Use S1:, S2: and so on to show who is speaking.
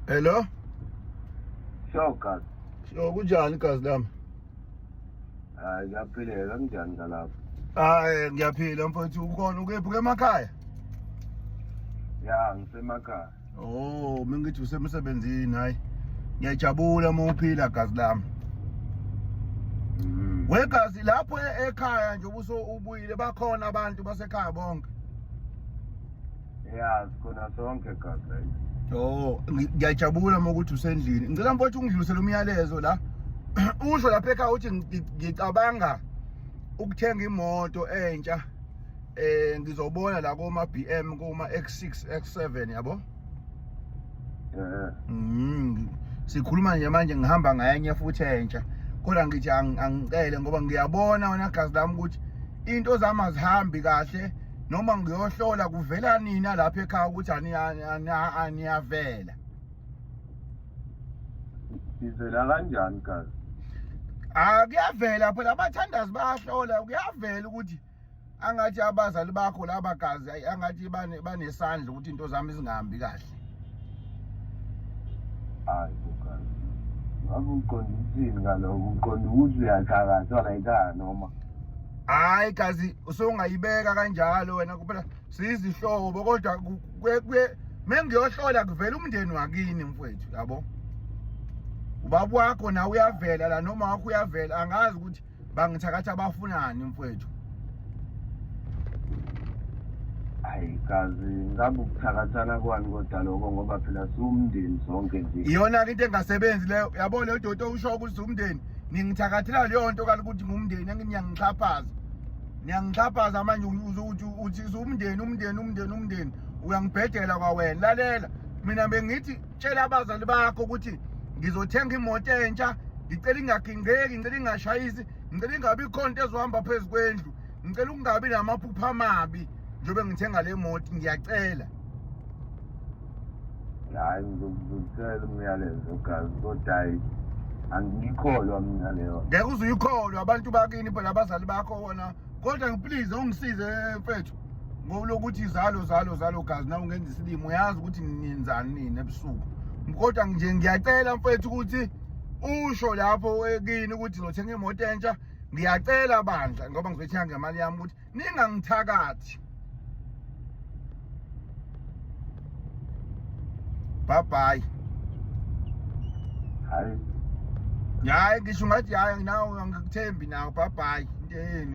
S1: Hello?
S2: Sure, Gazi. Sure, kunjani
S1: gazi lami?
S2: Hayi, ngiyaphileka, kunjani ngalapho? Hayi,
S1: ngiyaphila mfowethu, ukhona ukephi emakhaya? Ya,
S2: ngisemakhaya. Oh,
S1: mengithi usemsebenzini hayi. Ngiyajabula uma uphila gazi lami. Mm. Wegazi lapho e-, ekhaya nje ubuso ubuyile bakhona abantu basekhaya bonke. Yeah,
S2: sikhona sonke gazi la. Oh,
S1: ngiyajabula uma ukuthi usendlini. Ngicela mfowethu ungidlulisele umyalezo la. Usho lapha ekhaya uthi ngicabanga ukuthenga imoto entsha. eh ngizobona la koma BM kuma X6 X7 yabo eh mm sikhuluma nje manje ngihamba ngayenye futhi entsha kodwa ngithi angicele ngoba ngiyabona wena gazi lami ukuthi into zami azihambi kahle noma ngiyohlola kuvela nina lapha ekhaya ukuthi aniyavela
S2: Ivela kanjani kazi? Ah
S1: kuyavela phela abathandazi bayahlola kuyavela ukuthi angathi abazali bakho laba gazi ayi angathi bane banesandla ukuthi into zami zingahambi kahle.
S2: Hayi bokazi. Ngabe uqonda ukuthini ngaloko? Uqonda ukuthi uyathakatha la ekhaya noma? Hayi
S1: gazi usungayibeka kanjalo wena kuphela sizihlobo kodwa mengiyohlola kuvela umndeni wakini mfowethu yabo ubaba wakho nawe uyavela la noma wakho uyavela angazi ukuthi bangithakatha bafunani mfowethu
S2: hayi kazi ngabe ukuthakathana kwani kodwa lokho ngoba phela siwumndeni sonke nje iyona-ke into engasebenzi
S1: leyo yabo leyo dodo usho ukuthi siwumndeni ningithakathela leyo nto kalokuthi ngumndeni engiyangixhaphaza niyangixhaphaza manje uthi umndeni umndeni umndeni umndeni uyangibhedela kwawena lalela mina bengithi tshela abazali bakho ukuthi ngizothenga imoto entsha ngicela ingagingqeki ngicela ingashayisi ngicela ingabi ikhonto ezohamba phezu kwendlu ngicela ukungabi namaphupha amabi njengoba ngithenga le moto ngiyacela
S2: hayi ngizokutshela umyalezo gazi kodwa hayi angiyikholwa mina leyo ngeke uze uyikholwe
S1: abantu bakini phela abazali bakho wona kodwa ngiplease ungisize mfethu ngokulokuthi izalo zalo zalo gazi nawe ungenza isilimo uyazi ukuthi ninzani nini ebusuku kodwa nje ngiyacela mfethu ukuthi usho lapho kini ukuthi ngizothenga imoto entsha ngiyacela bandla ngoba ngizothenga ngemali yami ukuthi ningangithakathi bye bye hayi hayi ngisho ngathi hayi nawe
S2: angikuthembi
S1: nawe bye bye into yenu